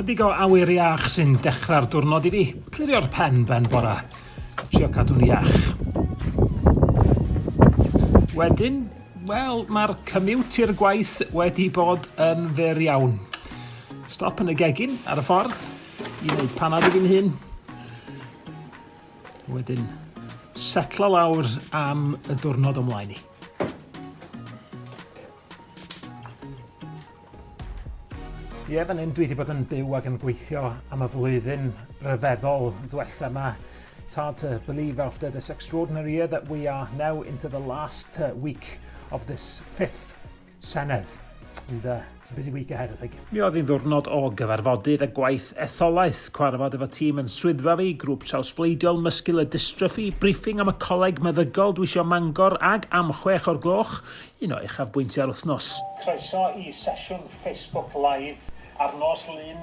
Chydig o awyr iach sy'n dechrau'r diwrnod i fi. Clirio'r pen ben bora. Trio cadw'n iach. Wedyn, wel, mae'r cymwt i'r gwaith wedi bod yn fer iawn. Stop yn y gegin ar y ffordd i wneud panad i fi'n hun. Wedyn, setla lawr am y diwrnod o'mlaen i. Ie, fan hyn dwi wedi bod yn byw ac yn gweithio am y flwyddyn rhyfeddol ddwetha yma. It's hard to believe after this extraordinary year that we are now into the last uh, week of this fifth Senedd. And uh, it's a busy week ahead, I think. Mi oedd hi'n ddwrnod o gyfarfodydd a gwaith etholaeth, cwarfod efo tîm yn swyddfa fi, grŵp trawsbleidiol muscular dystrophy, briffing am y coleg meddygol dwi isio Mangor ag am chwech o'r gloch, un o uchafbwyntiau'r wythnos. Croeso i sesiwn Facebook Live ar nos Lun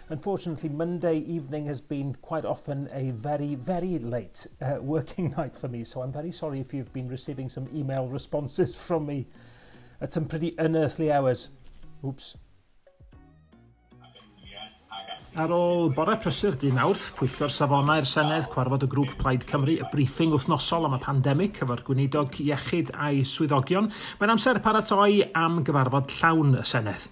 Unfortunately, Monday evening has been quite often a very, very late uh, working night for me, so I'm very sorry if you've been receiving some email responses from me at some pretty unearthly hours. Oops. Ar ôl bore prysur dyn awrth, Pwyllgor Safonau'r Senedd, cwarfod y grŵp Plaid Cymru, y briefing wythnosol am y pandemig, cyfo'r gweinidog iechyd a'i swyddogion. Mae'n amser paratoi am gyfarfod llawn y Senedd.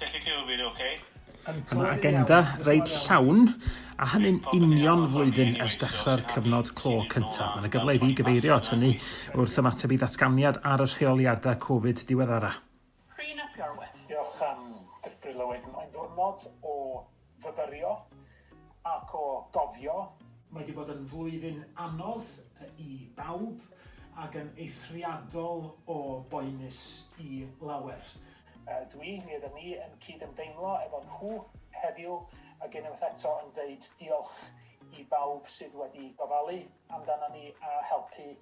Dych chi'n fi'n oce? Mae agenda reit llawn, a hynny'n union flwyddyn ers dechrau'r cyfnod clo cyntaf. Mae'n y gyfle i fi gyfeirio at hynny wrth ymateb i ddatganiad ar y rheoliadau Covid diweddara. Rhun ap Iorwerth. Diolch am dybri Lywydd. Mae'n ddiwrnod o fyfyrio ac o gofio. Mae 'di bod yn flwyddyn anodd i bawb ac yn eithriadol o boenus i lawer. Ydw i, mi ydym ni yn cyd-ymdeimlo efo nhw heddiw ac unwaith eto yn deud diolch i bawb sydd wedi gofalu amdana ni a helpu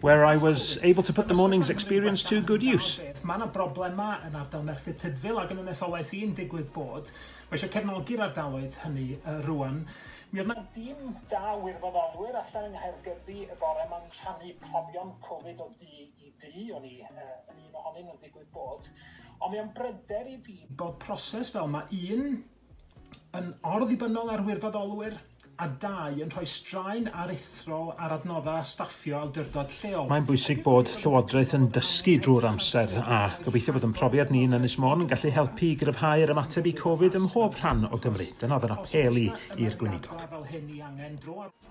where I was able to put the morning's experience to good use. Mae yna broblemau yn ardal Merthyr Tydfil ac yn y nesolaeth i'n digwydd bod. Mae eisiau cefnogi'r ardaloedd hynny uh, rwan. Mi oedd yna dîm da wirfoddolwyr allan yng Nghaergybi y bore ma'n rhannu profion Covid o du i du, o'n i uh, yn un ohonyn nhw'n digwydd bod. Ond mae o'n bryder i fi bod proses fel mae un yn orddibynnol ar wirfoddolwyr, a dau, yn rhoi straen aruthrol ar adnoddau a staffio awdurdod lleol. Mae'n bwysig bod Llywodraeth yn dysgu drwy'r amser, a gobeithio bod ein profiad ni yn Ynys Môn yn gallu helpu i gryfhau'r ymateb i Covid ym mhob rhan o Gymru. Dyna oedd yr apêl i i'r Gweinidog.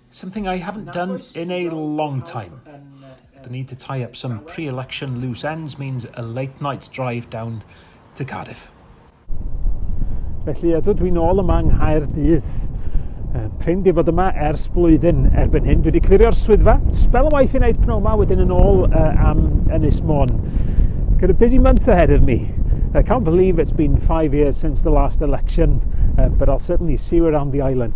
Something I haven't done in a long time. The need to tie up some pre-election loose ends means a late night's drive down to Cardiff. Felly ydw dwi'n ôl yma yng Nghaerdydd. Prin di bod yma ers blwyddyn erbyn hyn. Dwi wedi clirio'r swyddfa, spel o waith i wneud pnawn yma, wedyn yn ôl uh, am Ynys Môn. Got a busy month ahead of me. I can't believe it's been five years since the last election, uh, but I'll certainly see you around the island.